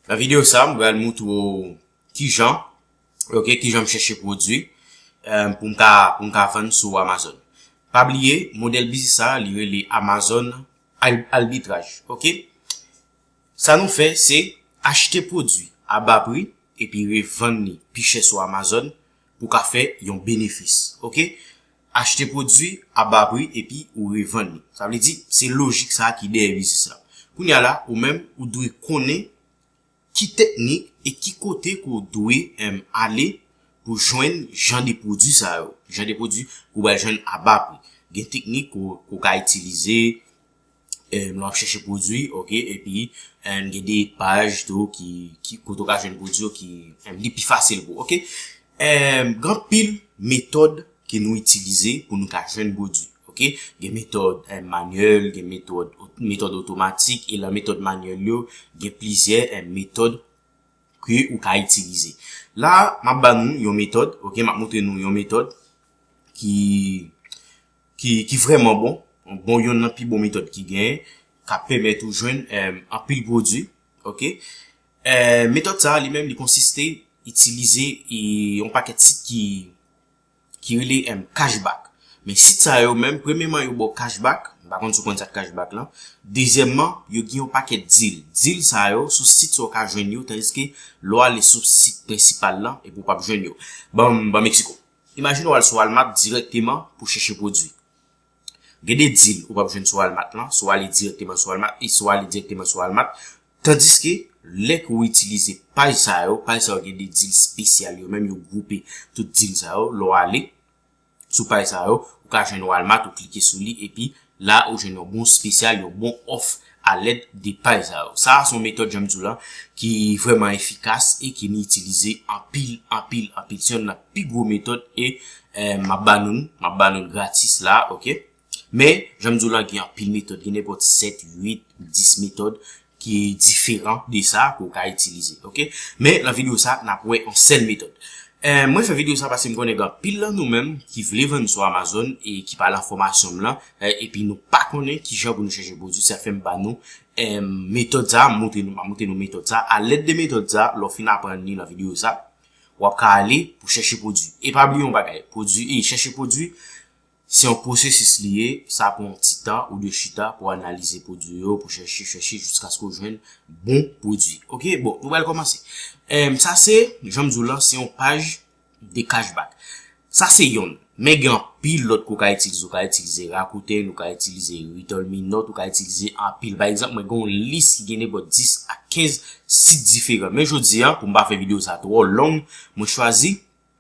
Nan video sa m pral moutre w kijan ok kijan m chèche pwodwi pou m ka pou m ka vann sou Amazon. Pa bliye modèl biznis sa li rele Amazon Albitraj ok. Sa nou fè se achte pwodwi a ba pri epi revann li pi chè sou Amazon. Pou ka fè yon benefis ok. Achte pwodwi a ba pri epi ou revann li. Sa vle di se lojik sa ki dèyè biznis la. Kounye a la ou menm ou dwe konnen ki teknik e ki kote ke w dwe ale pou jwenn jan de pwodwi sa yo. Jan de pwodwi ke w pral jwenn a ba pri. Gen teknik ke w ka itilize. Nou ap chèche pwodwi ok epi gen de paj tou ki kote ou ka jwenn pwodwi yo ki li pi fasil pou ok gen anpil metòd ke nou itilize pou nou ka jwenn pwodwi ok gen metòd manyèl gen metòd metòd otomatik e la metòd manyèl yo gen plizyè metòd ke ou ka itilize la m ap ba nou yon metòd ok m ap moutre nou yon metòd ki ki vrèman bon, yon bon yonn nan pi bon metòd ki genyen kap pèmèt ou jwenn anpil pwodwi ok metòd sa li menm li konsiste itilize yon pakèt sit ki ki rele cash back men sit sa yo menm premyeman yo baw cash back m pa konn si w konn sa k cash back lan dezyèmman yo gen yon pakèt dil dil sa yo sou sit sa w ka jwenn yo tandiske lè w ale sou sit prensipal lan epi w pap jwenn yo banm banm eksiko Imajine w al sou Walmart dirèkteman pou chèche pwodwi. Gen de dil ou pap jwenn sou Walmart lan si w ale dirèkteman sou Walmart e si w ale dirèkteman sou Walmart. Tandiske, lè ke w itilize paj sa yo, paj sa yo gen de dil spesyal yo menm, yo gwoupe tout dil sa yo. Lè w ale sou paj sa yo, ou ka jwenn Walmart, ou klike sou li epi. La ou jwenn yon bon spesyal, yon bon òf a lèd de paj sa yo. Sa a son metòd jan m di w lan ki vrèman efikas e ki nou itilize anpil, anpil, anpil. Se yonn nan pi gwo metòd e m ap ba nou l, m ap ba nou l gratis la a ok. Men, jan m di w lan gen anpil metòd, gen nenpòt 7, 8, 10 metòd. ki diferan de sa ke ou ka itilize ok men nan video sa nap wè yon sèl metòd mwen fè video sa paske m konnen gen anpil nan nou menm ki vle vann sou amazon e ki pa lan fòmasyon m lan epi nou pa konnen kijan pou nou chèche pwodwi sa fèm ban nou metòd sa m montre nou m montre nou metòd sa alèd de metòd sa lè w fin aprann li nan video sa wap ka ale pou chèche pwodwi e pa bliye yon bagay pwodwi e chèche pwodwi Se yon pwosesis li ye, sa pran yon ti tan ou dwe chita pou analize pwodwi yo, pou chèche, chèche jiskaske ou jwenn bon pwodwi. Ok, bon, nou pral kòmanse. Sa se, jan m di w lan, se yon paj de cashback. Sa se yonn, men gen anpil lòt ke w ka itilize. Ou ka itilize Rakuten, ou ka itilize Retolme Nòt, ou ka itilize anpil. Pa egzanp, mwen gen yon lis ki gen nenpòt 10 a 15 sit diferan. Men jodi a, pou m pa fè videyo sa twò long, mwen chwazi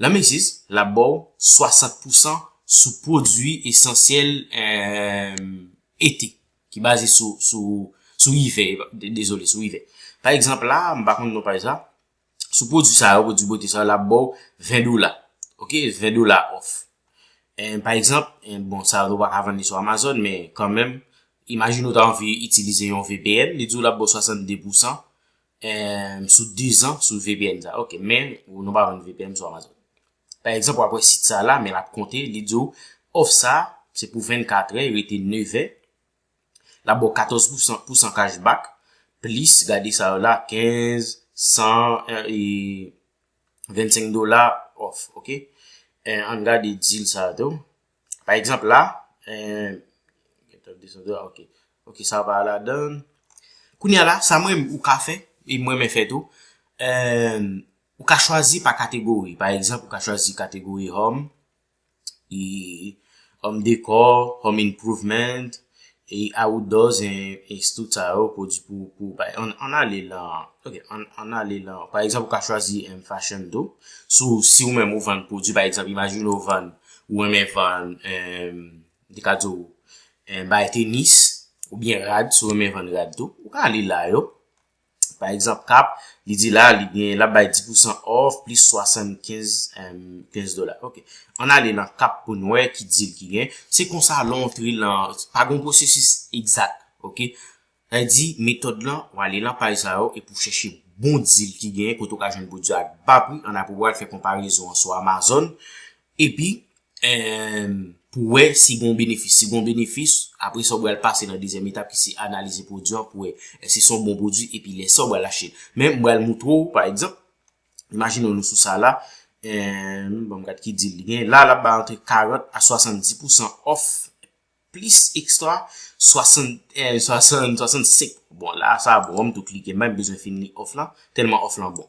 Nan Macy's, l ap ba w 60 pousan sou pwodui esansyèl ete, ki baze sou ivè, dezole, sou ivè. Pa egzanp la, m pa konn non paj la, sou pwodui sa yo, pwodui bote sa yo, l ap ba w 20 dola, ok, 20 dola off. Pa egzanp, bon, sa yo ou pa ka vann li sou Amazon, men kanmenm, imajine ou ta anvi itilize yon VPN, li di w l ap ba w 62 pousan, Emm sou 2 zan sou vpn sa ok men ou nou pa vann vpn sou amazon pa egzanp wap wè sit sa la men lap konte li diw òf sa se pou 24 è rete 9 è lap baw 14 pousan pousan cash back plis gade sa yo la 15 100 e 25 dola òf ok ann gade dil sa yo tou. Pa egzanp la, ok sa pa ladann. Kounye a la, sa mwen ou ka fè, e mwen mwen fè tou. Ou ka chwazi pa kategori. Pa egzanp, ou ka chwazi kategori home, home decor, home improvement. e awoudò zen eks tout sa yo pwodwi pou pou bay an ale lan ok an ale lan pa egzanp ou ka chwazi en fashion tou sou si ou menm ou vann pwodwi pa egzanp imajine ou vann ou renmen vann en de ka di w en bay tenis ou byen rad si ou renmen vann rad tou ou ka ale la yo Pa egzanp kap, li di la li gen lap bay 10% off plis 75 15 dola. Ok. An ale nan kap pou nou wè ki deal ki gen. Se konsa lè w antre lan, pa gon pwosesis egzat. Ok. Sa vle di metòd lan, w ale lan paj sa yo epi w chèche bon deal ki gen kote w ka jwenn pwodui a ak ba pri an apre w al fè konparezon an sou Amazon Epi, eemm, pou wè si gen yon benefis. Si gen yon benefis, apre sa ou bral pase nan dezyèm etap ki se analize pwodui an pou wè èske se yon bon pwodui epi lè sa ou bral achte l. Men m bral moutre ou pa egzanp, imajine nou sou sa la, eemm, banm gad ki dil li gen. La l ap bay antre 40 a 70 pousan òf plis ekstra 60, eemm, 60, 65. Bon la sa bon an m tou klike m pa menm bezwen fin li òf lan, tèlman òf lan bon.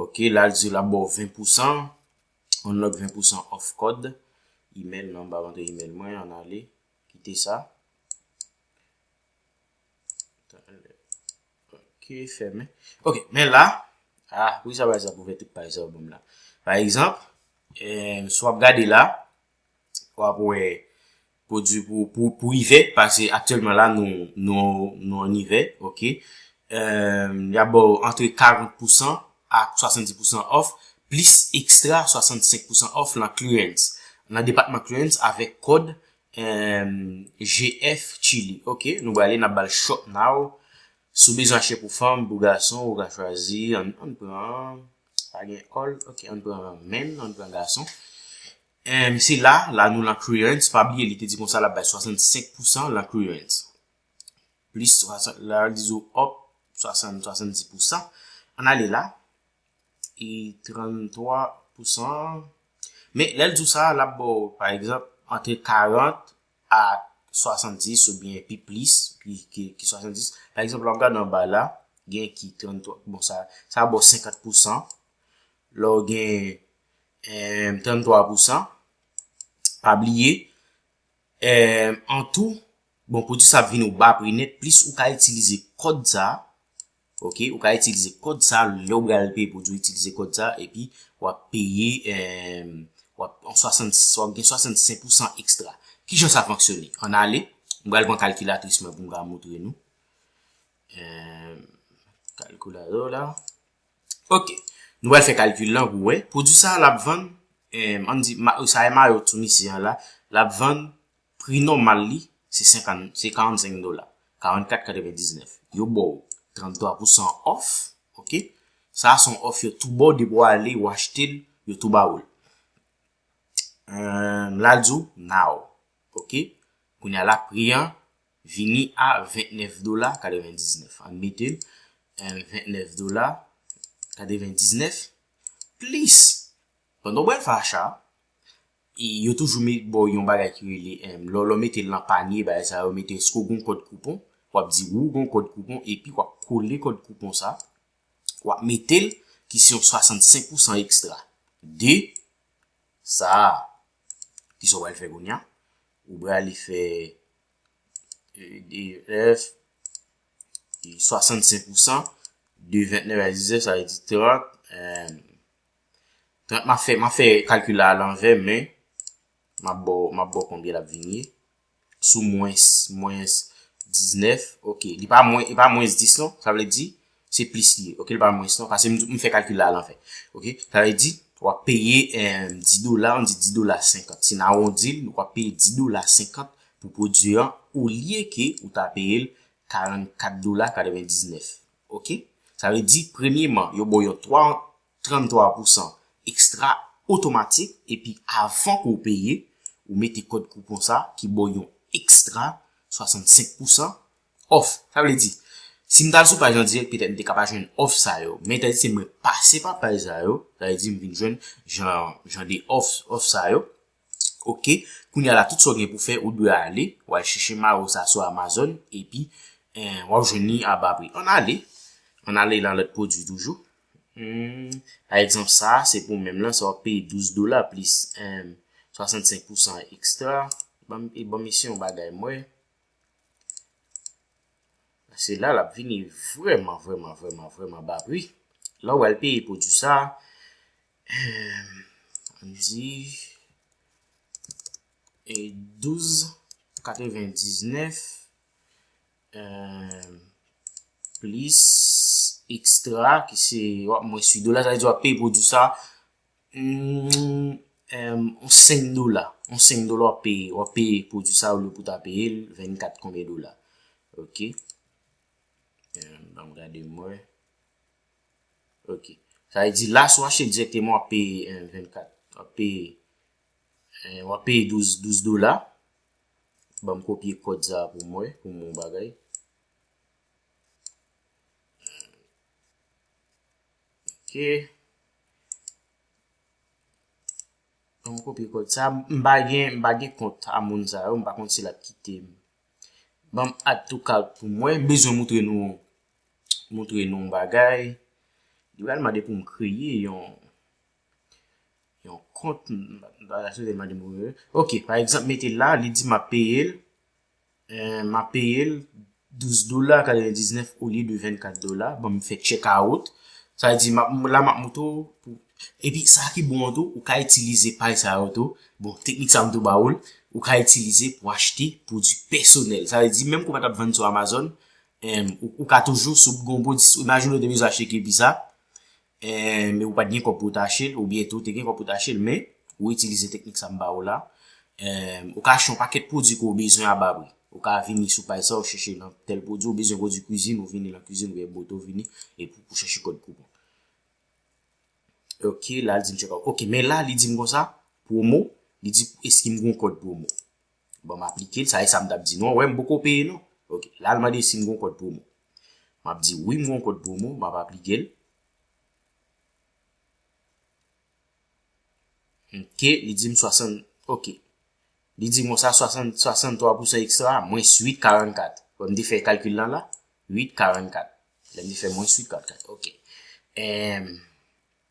Ok, la l di la bo 20%, unlock 20% off code, email nan ba vante email mwen, an ale, kite sa. Ok, fèmen. Ok, men la, ah, pou ki sa pa sa pou vè tout paj sa ou bon la. Pa egzamp, eh, sou ap gade la, wap wè pwodwi pou ivè pase aktyèlman la nou an ivè ok yap baw antre 40 pousan ak 70 pousan òf plis ekstra 65 pousan òf nan clearance nan depatman clearance avèk kòd GF chili ok nou brale nap bal shop now sou bezwen achte pou fanm pou gason ou ka chwazi ann pran Pa gen all ok ann pran men ann pran gason M se la la nou lan clearance pa bliye li te di konsa lap bay 65 pousan lan clearance plis la li di ou up 60 70 pousan ann ale la e 33 pousan men lè l di w sa lap baw pa egzanp antre 40 a 70 ou byen pi plis ki 70. Pa egzanp, lò gade anba la, gen ki 33, bon sa, sa bo 50 pou san. Lò gen 33 pou san. Pa bliye, an tou, bon, pwodi sa vin ou ba pri net, plis ou ka itilize kòd sa, Ok ou ka itilize kòd sa lèw bral peye pou di itilize kòd sa epi wap peye wap gen 65 pousan ekstra kijan sa fonksyone an ale m bral pran kalkilatris mwen poum ka moutre nou kalkilatris la ok nou bral fè kalkil lan pou wè pwodwi sa lap vann an di sa e mayo tou misye an la lap vann Pri nòmal li se 45 dola, 44,99. Yo ba w 33 pousan òf, ok. Sa a se yon òf yo tou ba w depi w ale ou achte l, yo tou ba ou l. La l di w now, ok. Kounye a la pri an vini a 29 dola 99. An n mete l, 29 dola 99 plis pandan w pral fè acha a, E yo toujou met ba w yon bagay ki rele, lè w mete l nan panye bagay sa yo mete èske w gen yon kòd koupon, w ap di wi w gen yon kòd koupon epi w ap kole kòd koupon sa w ap mete l ki se yon 65 pousan ekstra de sa a. Kisa w pral fè kounye a? Ou prale fè EDF 65 pousan de 29 a 19 sa vle di 30. Donk map fè map fè kalkil la alanvè men map baw map baw konbyen lap vini sou mwens mwens 19 ok li pa mwen li pa mwens 10 non sa vle di se plis li ye ok li pa mwens non pase m fè kalkil la alanvè ok sa vle di wap peye 10 dola an di 10 dola 50 si n awondi l wap peye 10 dola 50 pou pwodui an olye ke ou ta peye l 44 dola 99 ok sa vle di premyeman yo baw yon 3 33 pousan ekstra otomatik epi avan ke w peye ou mete kòd koupon sa ki ba w yon ekstra 65 pousan òf. Sa vle di si m t al sou paj andirèk petèt m te ka pa jwenn òf sa yo men etan se mwen pase pa paj sa yo sa vle di m vin jwenn jan de òf sa yo Ok kounya la tout sa ou gen pou fè ou dwe ale ou al chèche maro sa sou amazon epi wap jwenn li a ba pri ann ale ann ale nan lòt pwodwi toujou pa egzanp sa se pou menm lan sa wap peye 12 dola plis 65 pousan ekstra banm isi yon bagay m wè se la lap vini vrèman vrèman vrèman vrèman ba pri lè ou al peye pwodwi sa di e 12 99 euh, plis ekstra ki se wap mwen si dola sa di wap pay pou di sa mm, euh, 5 dola 5 dola wap pay wap pay pou di sa ou le pou ta pay 24 konbe dola ok euh, banm gade mwen Ok. Sa vle di la si w achte direkteman w ap peye 24. W ap peye w ap peye 12 12 dola. Banm kopye kòd sa pou mwen pou m wè yon bagay. Ok. Banm kopye kòd sa. M pa gen m pa gen kont a moun sa yo. M pa konn si l ap kite m. Banm add to cart pou mwen. M bezwen moutre nou. montre nou yon bagay, li pral mande pou m kreye yon yon kont, ok pa egzanp mete la li di m ap peye l m ap peye l 12 dola 99 olye de 24 dola, bon m fè check out sa di la m ap moutre w epi sa ki bon an tou ou ka itilize pay sa yo tou, bon teknik sa m tou ba ou l ou ka itilize pou achte pwodui pèsonèl sa vle di menm ke w pa t ap vann sou Amazon Ou ka toujou si w gonbo imajine w te bezwen achte kil pizza men ou pat gen kòb pou w ta achte l oubyen tou te gen kòb pou w ta achte l men ou itilize teknik sa m ba ou la ou ka achte yon pakèt pwodui ke w bezwen a ba pri ou ka vini sou paj sa ou chèche nan tèl pwodui ou bezwen pwodui kwizin ou vini nan kwizin oubyen bote ou vini epi pou chèche kòd koupon ok la l di m chèk ok men la li di m konsa pwomo li di eske m gen kòd pwomo. Bon m aplike l, sa e sa m t ap di nou an, wè m poko peye non. Ok, la l mande si m gon kòd pwomo. M ap di wi m gon kòd pwomo, m ap aplike l. Ok, li di m 60, ok. Li di m konsa 60, 63 pousan ekstra, mwens 8, 44. Wè m te fè kalkil lan la, 8, 44. Lè m te fè mwens 8, 44, ok. Ehm.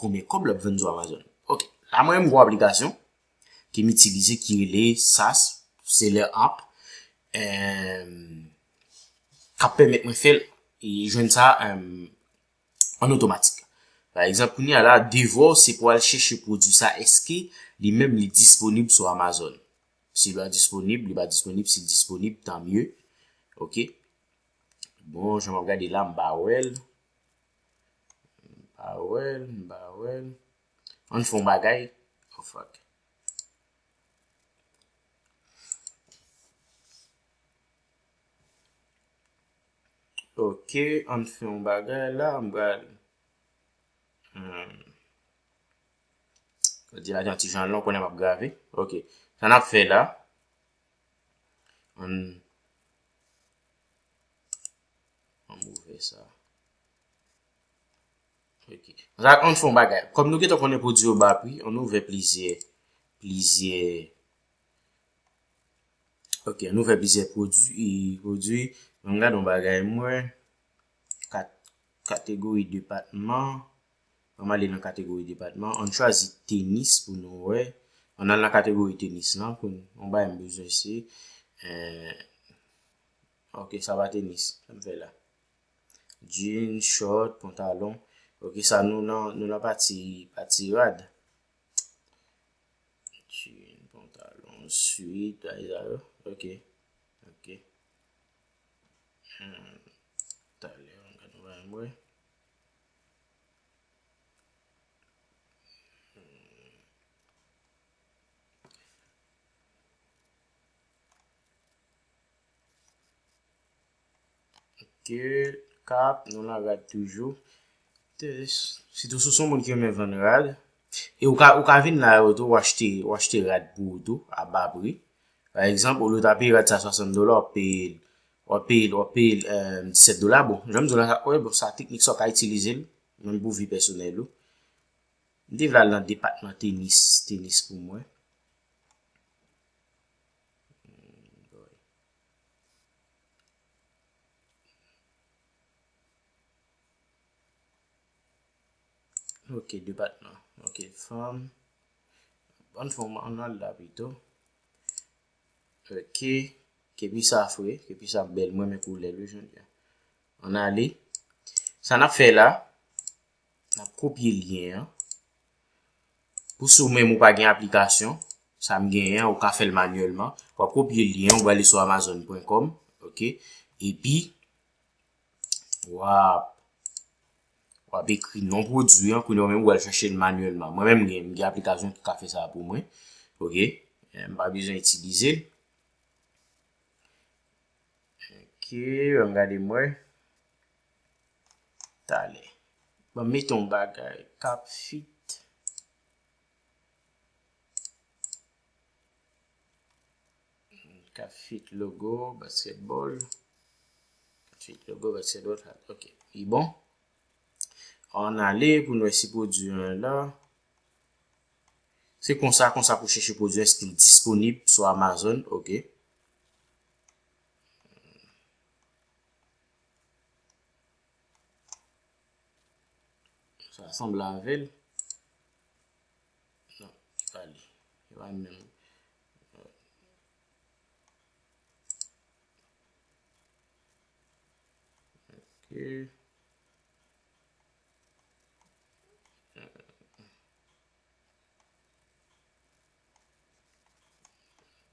Konbyen kòb l ap vann sou Amazon? Ok, la mwen menm gwo aplikasyon ke m itilize ki rele sas, seller app, k ap pèmèt mwen fè l e jwenn sa an otomatik. Pa egzanp, kounye a la, devò se pou al chèche pwodui sa, eske li menm li disponib sou Amazon? Si li pa disponib, li pa disponib, si li disponib, tanmye. Ok, bon, jan m ap gade la, m pa wè l. M pa wè l, m pa wè l. An n fè yon bagay. Oh fuck. Ok, an n fè yon bagay la. M pral. Òdinatè an ti jan lon konnen m ap grave. Ok. Sa n ap fè la. An n. An m ouvè sa. Ok. Zan an fon bagay. Kom nou getan konnen pwodi yo ba pri, an nou ouvè plizyè, plizyè. Ok, an nou ouvè plizyè pwodi, pwodi. An m gade yon bagay mwen. Kat, kategori depatman. An m ale nan kategori depatman. An chwazi tenis pou nou wè. An al nan kategori tenis lan pou nou. An bay m bezwen se. Eh. Ok sa pa tenis Sam fè la. Jean, short, pantalon. Ok sa nou nan nou nan pati pati rad. Jean, pantalon, sweat, bagay sa yo. Ok. Ok. Hmm. Talè an gade nou bay mwen. Ok, kap, nou nan rad toujou. Sitou si w son moun ki renmen vann rad. E ou ka vin nan yo tou, ou achte rad pou ou tou, a ba pri. Pa egzanp, olye w ta peye rad sa 60 dola, w ap peye l, w ap peye l, w ap peye l 17 dola. Bon, jan m di w la, wè bon sa teknik sa w ka itilize l, menm pou vi pèsonèl ou. M te vle al nan depatman tenis, tenis pou mwen. Ok depatman Ok fanm Bon fanm an nan la pito Ok Kepi sa fre Kepi sa bèl Mwen men koulèl wi jodi a An ale Sa nap fè la Nap kopye lyen an. Pou si ou menm ou pa gen aplikasyon, sa m genyen an, ou ka fè l manyèlman. Wap kopye lyen an, ou prale sou amazon.com, ok, epi wap wap ekri non pwodui an, kounye ou menm ou al chache l manyèlman. Mwen menm m gen aplikasyon ki ka fè sa pou mwen, ok, m pa bezwen itilize l. Ok, an m gade m wè. Talè. Banm met yon bagay kap fit. Kap fit logo basketball. Kap fit logo basketball. Ok. Li bon. An ale pou nou esi pwodwi an la. Se konsa konsa pou chèche pwodwi an eske li disponib sou Amazon. Ok. Sa sanble avèl. Non, se pa li. Se pa li menm. Ok.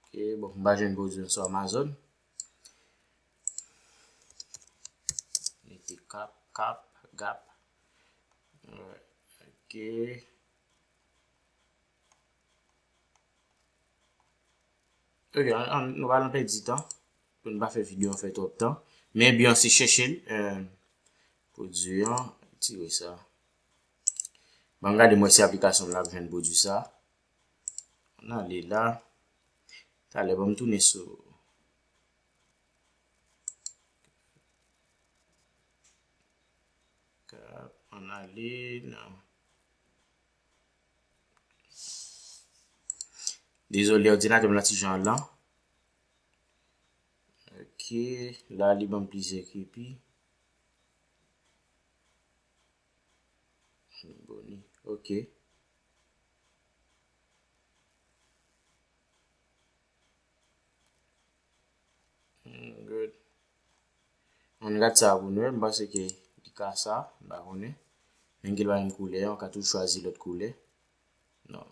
Ok, bon, mba jwenn gozi yon sou Amazon. Mete kap, kap, gap. Ok. Ok, nou va nan pe di tan. Pou nou pa fe video an fe trop tan. Men bi an se cheche. Euh, pou di an, ti we sa. Ban gade mwen se aplikasyon la ven pou di sa. An ale la. Talè banm tounen sou. Kap an ale nan. Dezole òdinatèm la ti jan an lan. Ok, la li banm plizyè kipi. Boni ok. Mwen gad sa pou nou e, m panse ke li ka sa, m pa konnen. Men gen lwa yon koulè, ou ka toujou chwazi lòt koulè. Non.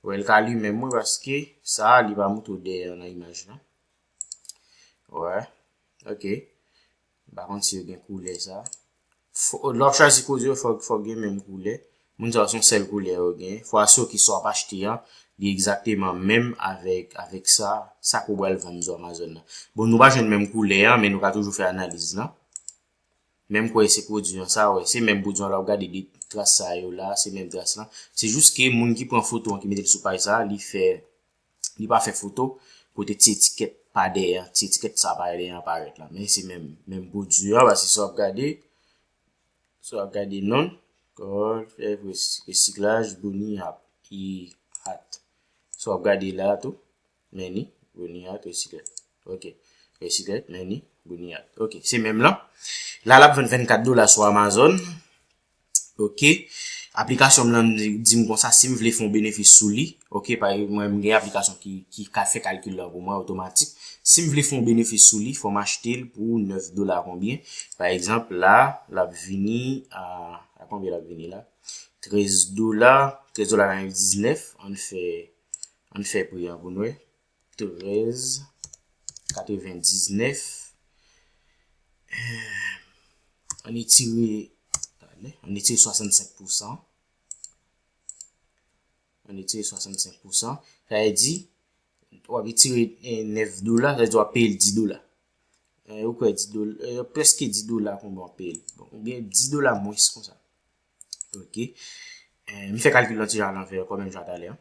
Wè l ka limen mwen paske sa a li pa moutre w deyè nan imaj lan. Wè. Ok. M pa konn si yo gen koulè sa. Lè w ap chwazi koze yo, fòk gen menm koulè. Moun sa yo se yon sèl koulè yo gen. Fòk aso ki sa w ap achte an, li egzakteman menm avèk sa, sa ke w pral vann sou Amazon nan. Bon, nou pa jwenn menm koulè an, men nou ka toujou fè analiz lan. Menm kwè se pwodui an sa, wè. Se menm pwodui an, lè w ap gade de tras sa yo la, se menm tras lan. Se jis ke moun ki pran foto an, ki mete l sou paj sa, li fè li pa fè foto kote ti etikèt pa dèyè an, ti etikèt sa pa dèyè an parèt la, men se menm, menm brodure an, paske si wap gade, si wap gade non, kòl, fèy pres, resiklaj, boni ap, i, at, si wap gade la tou, meni, boni at, resiklaj, ok, resiklaj, meni, boni at, ok, se menm lan, la lap vann 24 dola sou Amazon. ok aplikasyon m lan di m konsa si m vle fè yon benefis sou li ok pa ekzanp mwen m gen aplikasyon ki ka fè kalkil lan pou mwen otomatik si m vle fè yon benefis sou li fò m achte l pou 9 dola konbyen pa ekzanp la l ap vini a konbyen l ap vini la 13 dola 13 dola nan yon 19 an n fè an n fè pri an pou n wè 13 99 an etire an etire 65 pousan an etire 65 pousan sa e di w ap etire 9 dola sa e di w ap peye 10 dola ou kwe 10 dola ou preske 10 dola kon w ap peye ou gen 10 dola mwens kon sa ok mi fe kalkil la ti jan alanve yo kon men jan talè an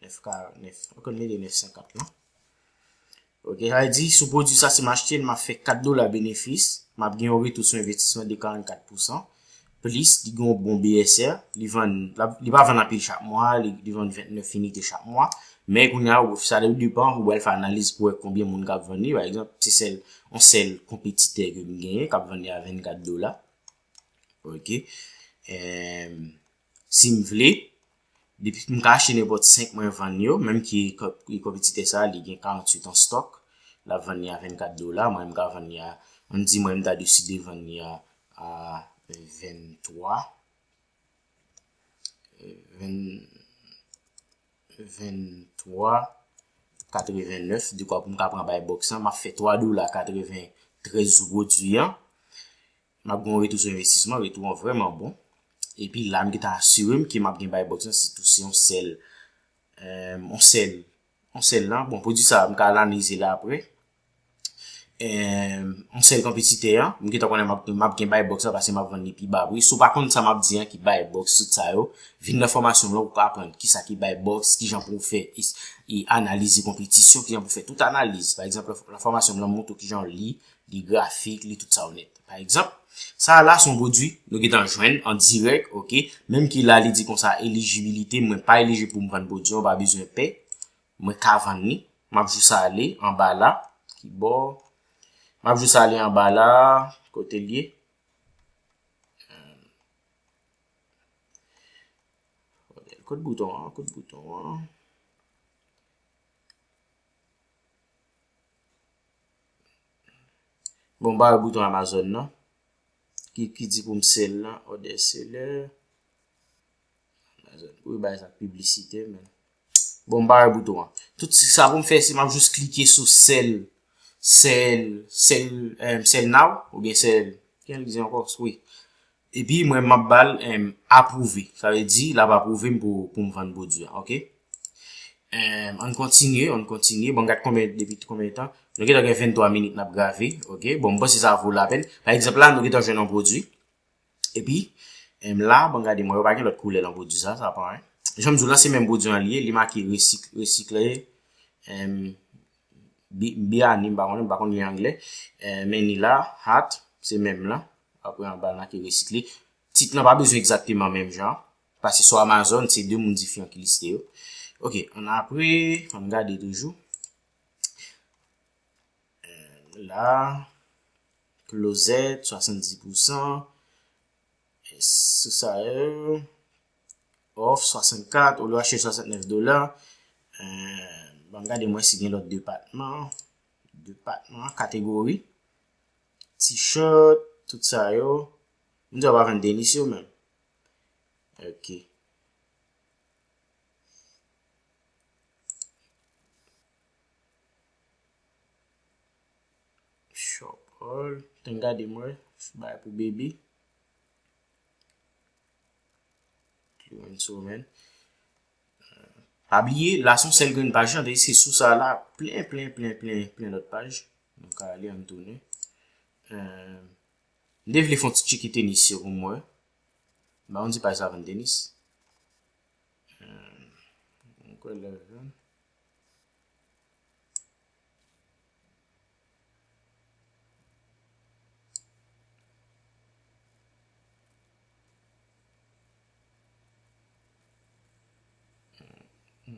9 kare, 9, ou konn mete 9 50 non. Ok, sa vle di, sou pwodwi sa si m achte l, m ap fè 4 dola benefis, m ap gen yon retou sou envestisman de 44 pousan, plis li gen yon bon BSR, li vann, li pa vann anpil chak mwa, li vann 29 inite chak mwa, men kounye a, sa depan, ou pral fè analiz pou wè konbyen moun k ap vann li, pa egzanp, se sèl, yon sèl konpetitè ke m genyen k ap vann li a 24 dola. Ok. si m vle, depi m ka achte nenpòt 5 mwen vann yo, menm ki kantite sa li gen 48 an stock, lap vann li a 24 dola, mwen m ka vann li a, an di mwen m ta deside vann li a 23 23 89, dekwa pou m ka pran bay box lan, map fè 3 dola 93 reduit an. Map gen yon retou sou envestisman, retou an vrèman bon. Epi la m gentan asire m ke map gen bay box lan sitou se yon sèl yon sèl yon sèl lan, bon pwodwi sa m ka analize l aprè. Yon sèl konpetitè an, m gentan konnen map gen bay box lan paske map vann li pi ba pri. Si w pa konn sa map di an ki bay box tout sa yo, vin nan fòmasyon m lan pou w ka aprann kisa ki bay box, kijan pou w fè analize konpetisyon, kijan pou w fè tout analize. Pa egzanp nan fòmasyon m lan m montre w kijan w li Li grafik, li tout sa ou nèt. Pa egzanp, sa a la son pwodui nou gentan jwenn an dirèk, ok, menm ki la li di konsa elijibilite mwen pa elijib pou m vann pwodui an, pa bezwen pè, mwen ka vann li, m ap jis ale anba la, ki bò, m ap jis ale anba la, kote l ye, kot bouton an, kot bouton an. Bon m pa wè bouton Amazon nan. Ki di pou m sel nan order seller. Amazon pou yo bay sa publicite men. Bon m pa wè bouton an. Tout sa pou m fè se m ap jous klike sou sel. Sel. Sel. Sel now. Ou gen sel. Kèl di ankò. Oui. Epi mwen map bal em aprouve. Sa vle di lap aprouve m pou poum vann pwodwi an ok. Em ann kontinye ann kontinye bon gad konbyen depi konbyen tan nou gentan gen 23 minit nap grave ok bon m panse sa vo lapèn pa egzanp la nou gentan jwenn yon pwodwi epi em la bon gade mwen wè pa gen lòt koulè lan pwodwi sa sa pa en janm di w lan se menm pwodwi an li ye li make resik resikle em bi biyani m pa konnen m pa konn li angle em men ni la hat se menm lan. Apre anba l n ake resit li. Tit lan pa bezwen egzakteman menm jan. Pase sou Amazon, se 2 moun difran ki liste yo. Ok, an apre, an n gade toujou. La, klozèt, 70 pousan. Sou sa yo. Of, 64, ou lwa che 69 dola. An gade mwen si gen lòt depatman. Depatman, kategori. T-shirt, tout sa yo. Moun sa yo pa vin denis yo menm. Ok. Shop all. Ten gade mwen. Bay pou baby. Yon sou men. Abliye, la son sel gren paj nan, de se sou sa la, plen, plen, plen, plen, plen lòt paj. Nou ka ale an tounen. M te vle fon ti tchiki tenis yo pou mwen. M pa konn si paj sa vann tenis. M kwè lè vann.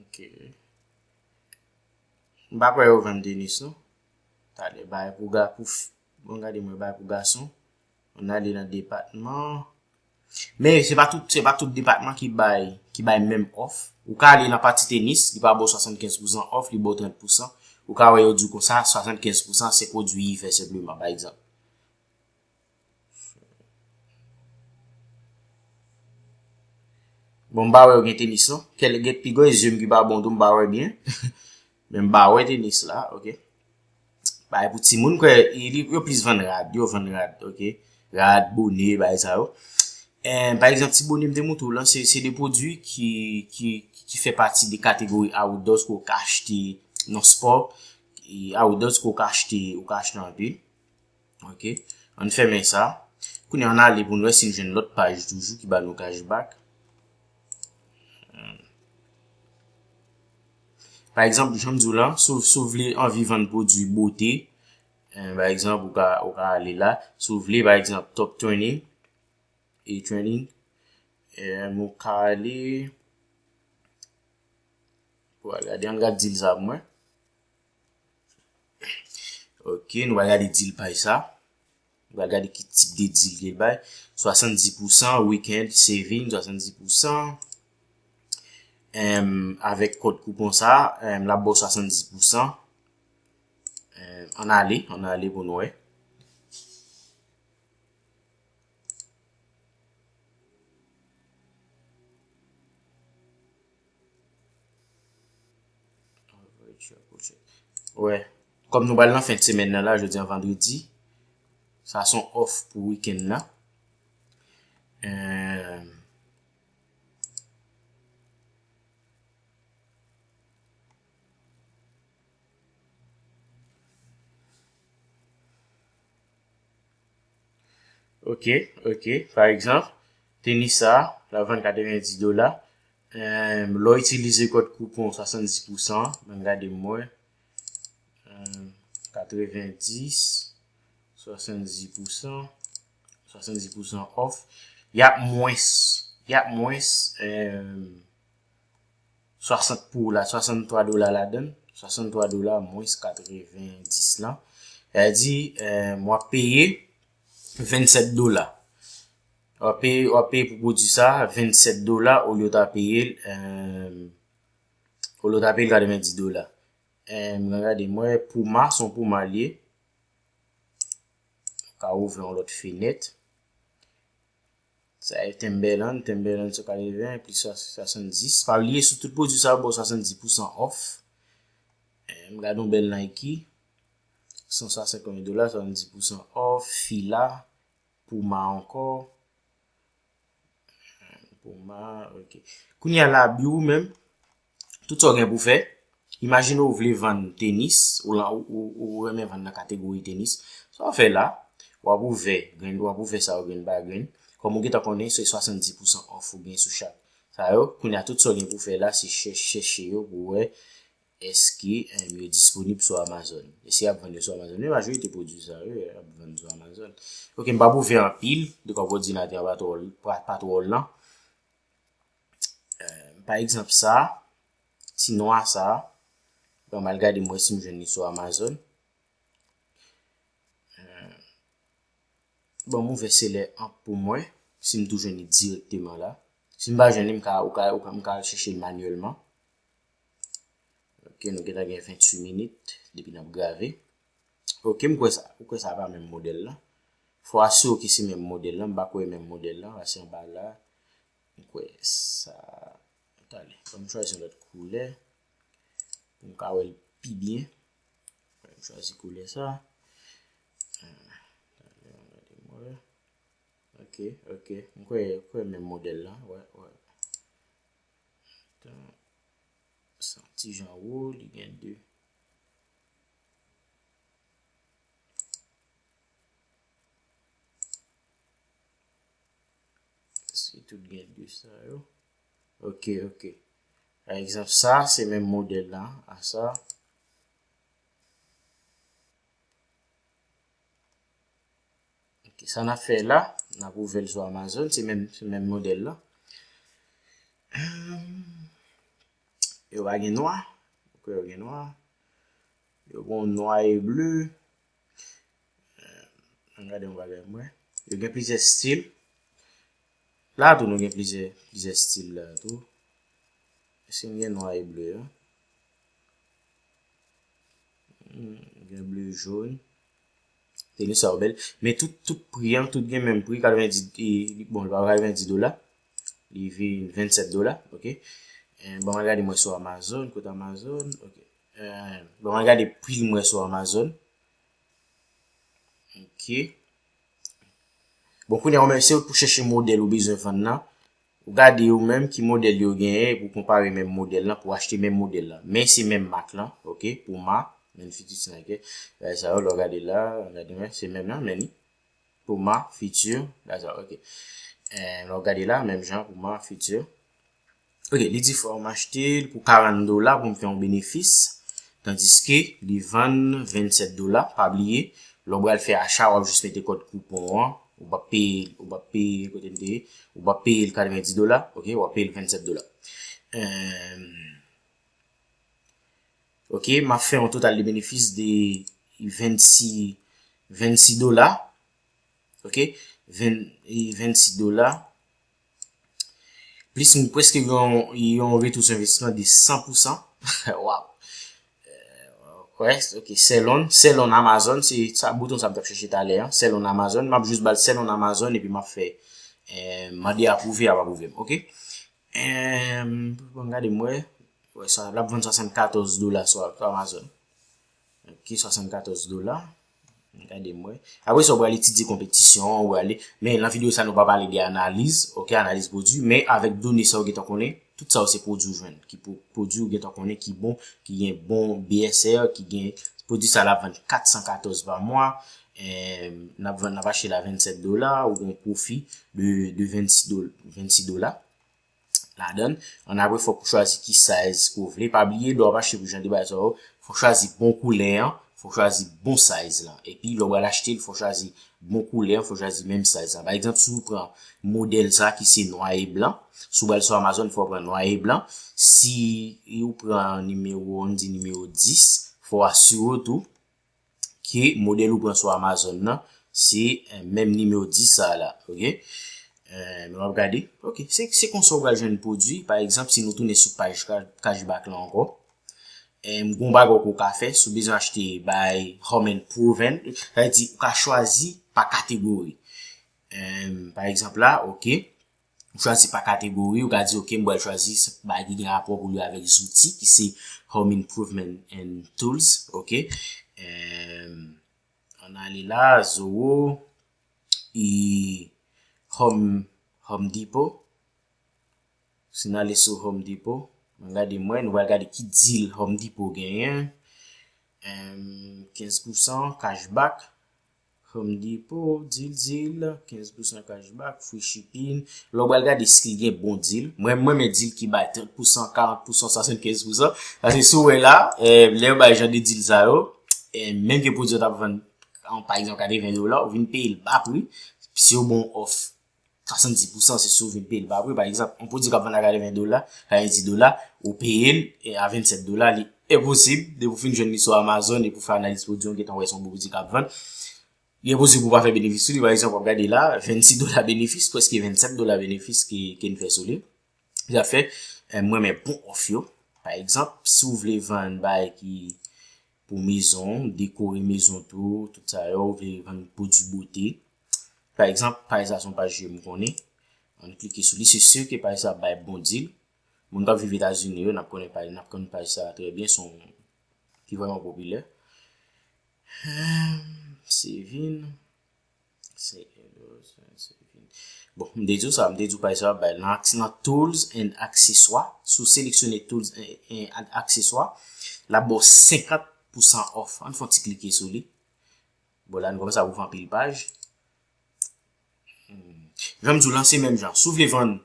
Ok. M pa kwè yo vann Denis non. Talè bay pou ga pou fi bon gade mwen bay pou gason an ale nan depatman men se pa tout se pa tout depatman ki bay ki bay menm òf ou ka ale nan pati tenis li pa baw 75 pousan òf li baw 30 pousan ou ka wè yo diw konsa 75 pousan se pwodwi ivè senpleman pa egzanp. Bon m pa wè ou gen tenis non. Kèl gen pi gwen zyem ki pa bon tou m pa wè byen. Men m pa wè tenis la ok. Bay pou ti moun kwe yo plis vann rad. Yo vann rad ok. Rad, bone bay sa yo. En pa egzant ti bone m te moutou lan se se de pwodwi ki fe pati de kategori a ou dos ko kache te non sport. A ou dos ko kache te ou kache te anpe. Ok, ann fèmen sa. Kounye an ale pou n wè si n jwenn lòt paj toujou ki ba nou cashback. Pa egzanp, jan m di w lan, si w vle anvi vann pwodui bote, pa egzanp, ou ka ale la. Si w vle, pa egzanp, top trending, e trending, m ou ka ale. Ou a gade, an gad dil sa pou mwen. Ok, nou va gade dil pay sa. Nou va gade ki tip de dil li bay. 70% weekend saving, 70%. Avèk kòd koupon sa, la bo 70%. An ale, an ale pou nou e. Wè, kòm nou bal nan fèt semèn nan la, jodi an vandredi, sa son off pou wikèn nan. Euh, Ok ok pa egzanp tenis sa la vann 90 dola um lè w itilize kòd koupon 70 pou san an banm gade mwen um 90 70 pou san 70 pou san òf yap mwens yap mwens um 60 pou la 63 dola ladann, 63 dola mwens 90 lan, sa vle di m wap peye 27 dola. Wap peye wap peye pou pwodui sa 27 dola olye w ta peye l olye w ta peye l 90 dola. M nan gade m wè Puma son Puma l ye. M ka ouvri yon lòt fenèt. Sa e Timberland, Timberland sou 80 plis 70. Pa bliye sou tout pwodwi sa yo bo 70 pousan off. Eh, m gade yon bel Nike. 160 konbyen dola, 70 pousan off. Fila, Puma anko. Puma, ok. Kounye a la biwou menm. Tout sa w gen pou w fè, Imajine w vle vann tenis, ou renmen vann nan kategori tenis, sa w ap fè la, w ap ouvè grenn, w ap ouvè sa yo grenn pa grenn, kòm ou gentan konnen se 70 pousan òf ou gen sou chak sa yo, kounye a tout sa w gen pou w fè la se chèche yo pou w wè èske yo disponib sou Amazon. E si y ap vann yo sou Amazon, men majorite pwodui sa yo y ap vann sou Amazon. Ok, m pa pou w fè anpil, dekòm òdinatè a pa twò lan. Pa egzanp sa, ti nwa sa, mwen mal gade mwen si m jwenn li sou Amazon. Euh, bon, mwen vese lè an pou mwen, si m tou jwenn li direkteman la. Si m pa jwenn li, m ka, ou ka, ou ka, m ka chèche l manyèlman. Ok, nou gentan gen 28 minit, depi nan grave. Ok, m kwe sa, m kwe sa pa menm modèl la. Fwa si w ki se menm modèl la, m pa kwe menm modèl la, ase m ba la. M kwè sa Tande, fò m chwazi yon lòt koulè pou m ka wè l pi byen Mwen m chwazi koulè sa Tande, an gade m wè Ok, ok, m kwè, m kwè menm modèl la Wè, wè Tan San ti jan wo, li gen 2 Tande Si tout gen 2 sa yo. Ok, ok. Pa egzanp sa, se menm modèl la a sa. Ok, sa na fè la, na pou vèl sou Amazon, se menm, se menm modèl la. Yo pa gen nwa, ok yo gen nwa. Yo bon nwa e bleu. An gade yon bagay mwen. Yo gen plizyè stil. La tou nou gen plizyè plizyè stil la tou. Eske m gen nwa e ble yo? Hmm, gen ble joun. Teni sa yo bel. Men tout tout pri an, tout gen menm pri. 90, bon l pa 90 dola. Li vin 27 dola, ok. Bon an gade mwen sou Amazon, kote Amazon, ok. Bon mwen gade pri l mwen sou Amazon. Ok. Bon kounye ou men se ou pou chèche modèl ou bezwen vann nan. Ou gade ou menm ki modèl yo genyen epi ou konpare menm modèl lan pou ou achte menm modèl lan. Men se menm mak lan. Ok. Puma. Men fiti ti Nike. Bagay sa yo lè ou gade la. Gade men. Se menm nan men ni. Puma. Fiti. Bagay sa yo. Ok. Lè ou gade la. Menm jan. Puma. Fiti. Ok, li di frè ou m achte l pou 40 dola pou m fè yon benefis, tandiske li vann 27 dola, pa bliye lè w pral fè acha wap jis mete kòd koupon an, ou pap peye, ou pap peye, kote m te ye, ou pap peye l 90 dola ok, wap peye l 27 dola. Ok, map fè yon total de benefis de 26, 26 dola, ok, 26 dola. Plis moun preske gen yon retou sou envestisman de 100 pousan. Waw! West, ok, selon, selon Amazon, se sa bouton sa m tap chèche talè an, selon Amazon, m ap jis bal selon Amazon epi m ap fè eh mande apwouve y ap apwouve m, ok. Ehm, bon m gade m wè, wè sa, l ap vann 74 dola sou Amazon. Ok, 74 dola. Gade mwen. Apre sa ou pral etidye konpetisyon an, ou prale, men nan videyo sa nou pa pale de analiz, ok, analiz pwodwi, men avèk done sa ou gentan konnen, tout sa yo se pwodwi ou jwenn, ki pwodwi ou gentan konnen ki bon, ki gen bon BSR, ki gen, pwodwi sa la ap vann 414 pa mwa, nap vann, nap achte la 27 dola, ou gen pwofi de 26 dola. ladan l. An apre fòk ou chwazi ki size ke w vle. Pa bliye lè w ap achte pou jan de bagay sa yo, fòk w chwazi bon koulè an, fòk w chwazi bon size lan. Epi lè w pral achte l fòk w chwazi bon koulè an, fòk w chwazi menm size lan. Pa egzanp si w pran modèl sa ki se nwa e blan, si w pral sou Amazon fòk w pran nwa e blan. Si ou pran nimewo, an nou di nimewo 10, fòk w asire w tou. ke modèl ou pran sou Amazon nan se menm nimewo 10 sa la ok men wap gade ok se konsa ou pral jwenn pwodwi pa egzanp si nou tounen sou paj cashback lan ankò gon bagay ou ka fè si ou bezwen achte bay home and proven sa vle di ou ka chwazi pa kategori pa egzanp la ok. Ou chwazi pa kategori, ou ka di ok m pral chwazi bagay ki gen rapò pou li avèk zouti ki se Home Improvement and Tools ok Ann ale la Zoro e Home Depot Si n ale sou Home Depot Mwen gade mwen, nou pral gade ki deal Home Depot genyen 15% cashback Home Depot, deal deal, 15 pousan cash back, free shipping. Lè w pral gade si li gen bon deal. Mwen m renmen deal ki bay 30 pousan, 40 pousan, 75 pousan. Paske si w wè la, lè yo bay jan de deal sa yo, menm ke pwodui an t ap vann an pa egzanp 80 dola, ou vin peye l ba pri, si yo ba w off. 70 pou san se si ou vin peye l pa apre. Pa egzanp, yon pwodui k ap vann a 80 dola, 90 dola, ou peye l a 27 dola, li enposib depi ou fin jwenn li sou Amazon epi ou fè analiz pwodui an ou gentan wè se yon pwodui k ap vann. Li enposib pou ou pa fè benefis sou li. Pa egzanp, w ap gade la, 26 dola benefis, pwèske 27 dola benefis ke n fè sou li. Zafè, mwen men bon òf yo. Pa egzanp, si ou vle vann bay ki. pou mezon, dekore mezon tou, tout sa yo, ou vle vann pwodui bote. Pa egzanp, paj sa son paj ke m konnen, ann klike sou li, se sur ke paj sa ap bay bon deal. Moun kap viv Etazini yo, nap konnen paj, nap konn paj sa trè byen, son ki vrèman popilè. Se vin. Bon, m te di w sa, m te di w paj sa bay nan axe nan tools and akseswa, sou seleksyone tools and akseswa, la bo 50% off, an fon ti klike sou li. Bon, la nou koman sa wou fanpil paj. Janm di w lanse menm jan, sou vle vann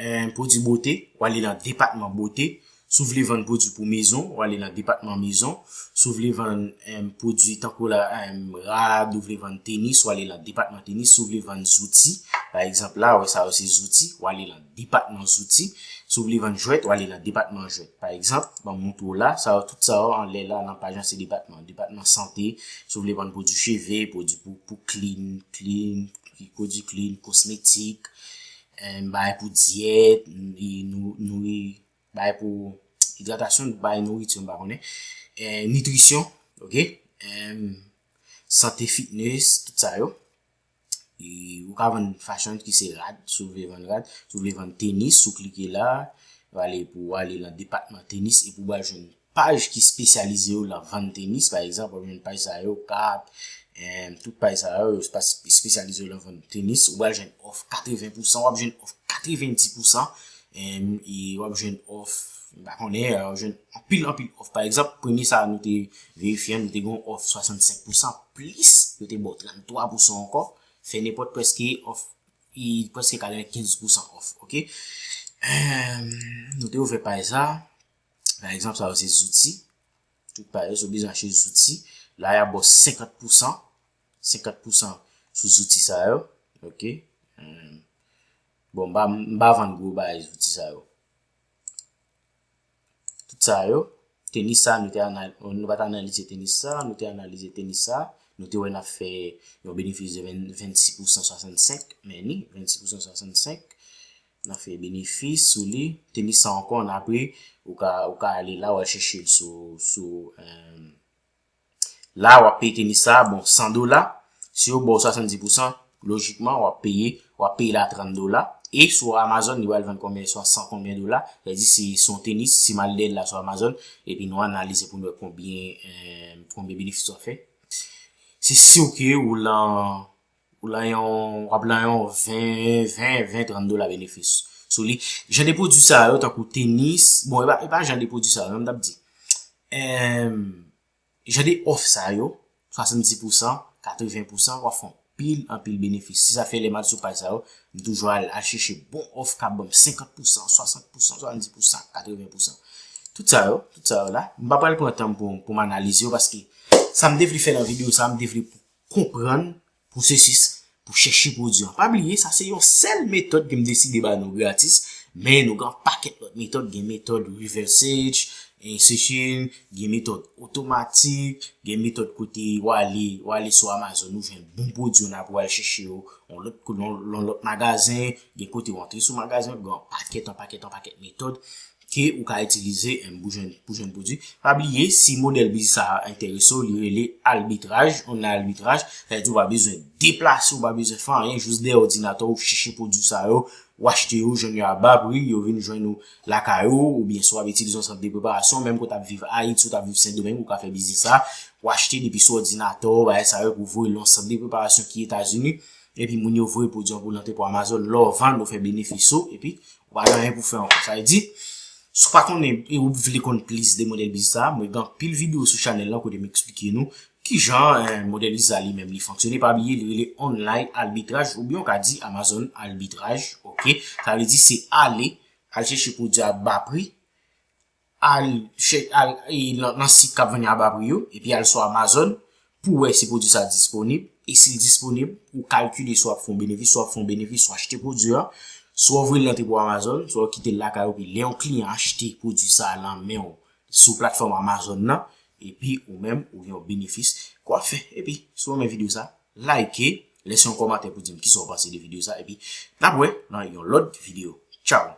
1 pwodwi bote, w ale nan depatman bote, si w vle vann pwodwi pou mezon, w ale nan depatman mezon, si w vle vann pwodwi tankou la rad, ou vle vann tenis, w ale nan depatman tenis, si w vle vann zouti, pa egzanp la, wè sa yo se zouti, w ale nan depatman zouti, si w vle vann jwèt, w ale nan depatman jwèt. Pa egzanp, ban m montre w la, sa yo tout sa yo anlè la nan paj la se depatman. Depatman sante, si w vle vann pwodwi cheve, pwodwi pou klin, klin, pwodwi klin, kosmetik, n bay pou dyèt, bay pou idratasyon, bay nouriti m pa konnen, nitrisyon, sante fitness, tout sa yo. E ou ka vann fashion ki se rad, si w vle vann rad, si w vle vann tenis, si w klike la, wale pou wale nan depatman tenis e pou wale jwenn paj ki spesyalize yo lan vann tenis pa egzanp wap jwenn paj sa yo kap tout paj sa yo yo spesyalize yo lan vann tenis ou pral jwenn òf 80 pousan wap jwenn òf 90 pousan e wap jwenn òf mpa konnen wap jwenn anpil anpil òf pa egzanp premye sa nou te verifye an nou te gen yon òf 65 pousan plis yo te baw 33 pousan ankò fè nenpòt prèske òf e prèske 95 pousan òf ok nou te ouvè paj sa. Pa egzanp, sa yo se zouti. Tout pa yo se oblije achte zouti. La ya bo 50 pousan. 50 pousan sou zouti sa yo. Ok. Bon, mba vann gwo ba yo zouti sa yo. Tout sa yo. Tenis sa, nou te analize tenis sa. Nou te analize tenis sa. Nou te wè na fè yon benefis de 26 pousan 65. Meni, 26 pousan 65. nan fè benefis sou li tenis sa ankò an apre ou ka ou ka ale la wal chèche l sou sou um, la wap peye tenis sa bon 100 dola si yo baw 70 pou san lojikman wap peye wap peye la 30 dola e sou amazon li wal vann konbyen swa 100 konbyen dola sa di si son tenis si mal de la sou amazon epi nou analize pou nou konbyen um, konbyen benefis wap fè se siw ke ou lan Ou lan yon, w ap lan yon 20, 20, 30 dola benefis sou li. Jan de pwodui sa yo tankou tenis, bon e pa jan de pwodui sa yo, m t ap di. Jan de òf sa yo, 70 pou san, 80 pou san, w ap fè yon pil an pil benefis. Se sa fè lè m al sou paj sa yo, m toujou al chèche bon òf k ap ban m 50 pou san, 60 pou san, 70 pou san, 80 pou san. Tout sa yo, tout sa yo la, m pa pral pran tan m pou m analize yo paske sa m te vle fè nan videyo sa, m te vle pou. konprann pwosesis pou chèche pwodwi an. Pa bliye sa se yon sèl metòd ke m deside ba nou gratis, men nou gen yon pakèt lòt metòd, gen metòd reverse search, gen metòd otomatik, gen metòd kote w ale, w ale sou Amazon ou jwenn bon pwodwi w nan pou w al chèche yo nan lòt magazen, gen kote w antre sou magazen, gen yon pakèt, yon pakèt, yon pakèt metòd ke ou ka itilize pou jwenn pou jwenn pwodwi. Pa bliye si modèl biznis sa a enterese w li rele albitraj, on nan albitraj sa vle di ou pa bezwen deplase ou pa bezwen fè anyen jis dèyè odinatè w chèche pwodwi sa yo w achte yo jwenn yo a ba pri yo vin jwenn ou lakay ou oubyen si w ap itilize yon sant de preparasyon menm ke w t ap viv Ayiti ou t ap viv Sendomeng ou ka fè biznis sa a w achte depi sou odinatè w bagay sa yo epi w voye l nan yon sant de preparasyon ki Etazini epi moun yo voye pwodwi an pou l antre pou Amazon lè w vann ou fè benefis ou epi Ou pa gen anyen pou fè ankò. Sa vle di, si w pa konnen e ou vle konn plis de modèl biznis sa, mwen gen anpil videyo sou chanèl lan kote m eksplike nou kijan modèl biznis sa li menm li fonksyone. Pa bliye li rele online arbitraj oubyen ou ka di Amazon arbitraj ok. Sa vle di se ale al chèche pwodui a ba pri. al chè al nan sit kap vann yo a ba pri yo epi al sou Amazon pou wè si pwodwi sa disponib e sil disponib ou kalkile si wap fè yon benefis si wap fè yon benefis ou achte pwodwi a swa w voye l nan depo Amazon swa w kitel lakay ou epi lè yon kliyan achte pwodwi sa nan menw sou platfòm Amazon nan epi ou menm ou gen yon benefis ke wap fè epi si w renmen video sa like lèse yon kòmantè pou dim kisa w panse de video sa epi nap wè nan yon lòt video tchaww.